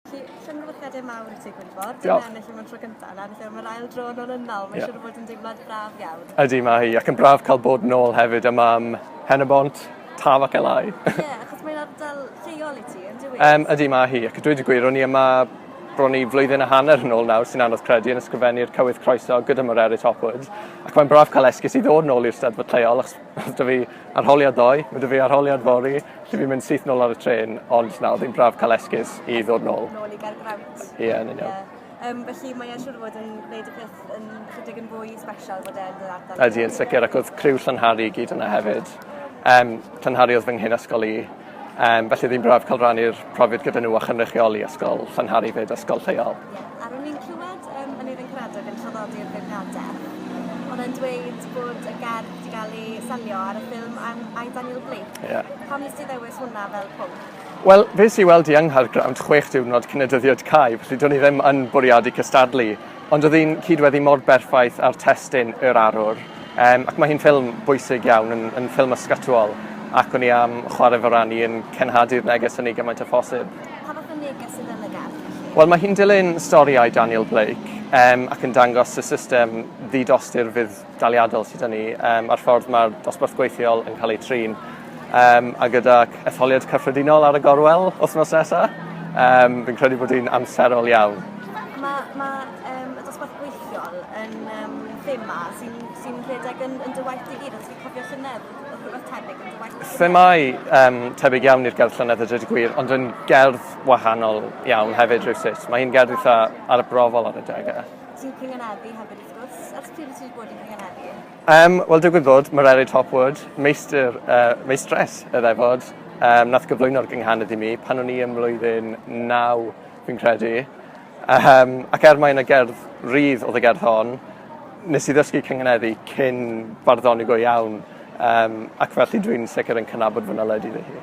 Felly, llongyfarchiadau mawr i ti, Gwynfor. Diolch. Dyna ennill yma'n tro cyntaf, na, felly mae'r ail dro yn ôl yn ôl. Mae'n yeah. siŵr o fod yn deimlad braf iawn. Ydy, mae hi, ac yn braf cael bod yn ôl hefyd yma am Henabont, Taf ac Elai. Ie, yeah, achos mae'n ardal lleol i ti, yn dweud? Um, ydy, mae hi, ac dweud y gwir, o'n i yma bron i flwyddyn a hanner yn ôl nawr sy'n anodd credu yn ysgrifennu'r cywydd croeso gyda Morerit Hopwood. Ac mae'n braf cael esgus i ddod yn ôl i'r steddfod lleol, achos Mae 'da fi arholiad ddoe, mae 'da fi arholiad fory, lle fi'n mynd syth nôl ar y trên, ond na, oedd hi'n braf cael esgus i ddod nôl. Nôl i Gaergrawnt. Ie, yeah, yn union. Yeah. Um, felly mae e'n siŵr o fod yn gwneud y peth yn chydig yn fwy special bod e'n yr ardal. Ydy, yn sicr, ac oedd criw Llanhari i gyd yna hefyd. Um, Llanhari oedd fy nghyn ysgol i, Um, felly ddim braf cael rannu'r profiad gyda nhw a chynrychioli ysgol Llanhari fyd ysgol lleol. Ie, a ro'n i'n clywed um, yn Eirin Gwradog yn traddodi'r beirniadaeth. Oedd e'n dweud bod y gerdd wedi cael ei selio ar y ffilm am I Daniel Blake. Ie. Yeah. Pam nes ti ddewis hwnna fel pwnc? Wel, fes i weld i yng Nghaergrawnt chwech diwrnod cyn y dyddiad cau, felly do'n i ddim yn bwriadu cystadlu. Ond oedd hi'n cyd-weddi mor berffaith â'r testun Yr Arwr, um, ac mae hi'n ffilm bwysig iawn, yn, yn ffilm ysgatwol, ac o'n i am chwarae fy ran i yn cenhadu'r neges hynny gymaint o phosib. Pa fath o neges sydd yn y gerdd? Wel, mae hi'n dilyn storiau Daniel Blake um, ac yn dangos y system ddidosturfydd daliadol sydd â ni um, a'r ffordd mae'r dosbarth gweithiol yn cael ei trin. Um, a gyda etholiad cyffredinol ar y gorwel wythnos nesaf, um, fi'n credu bod hi'n amserol iawn. Mae ma, um, y dosbarth gweithiol yn um, thema sy'n sy rhedeg yn, yn dy waith i gyd, os fi'n cofio llynedd, oedd rhywbeth tebyg yn dy waith i Themau um, tebyg iawn i'r gerdd llynedd y dweud gwir, ond yn gerdd wahanol iawn hefyd rhywsut. Mae hi'n gerdd eitha ar y brofol ar y degau. Ti'n cynghaneddu hefyd wrth gwrs. Ers pryd wyt ti wedi bod yn cynghaneddu? Um, Wel, digwydd bod, Morelli Topwood, meistr, uh, meistres y ddefod, um, nath gyflwyno'r gynghanedd i mi pan o'n i ym mlwyddyn 9, fi'n credu. Um, ac er mae yna gerdd rydd oedd y gerdd hon, nes i ddysgu cynghaneddu cyn barddoni go iawn, um, ac felly dwi'n sicr yn cynabod fy naledi ddi hi.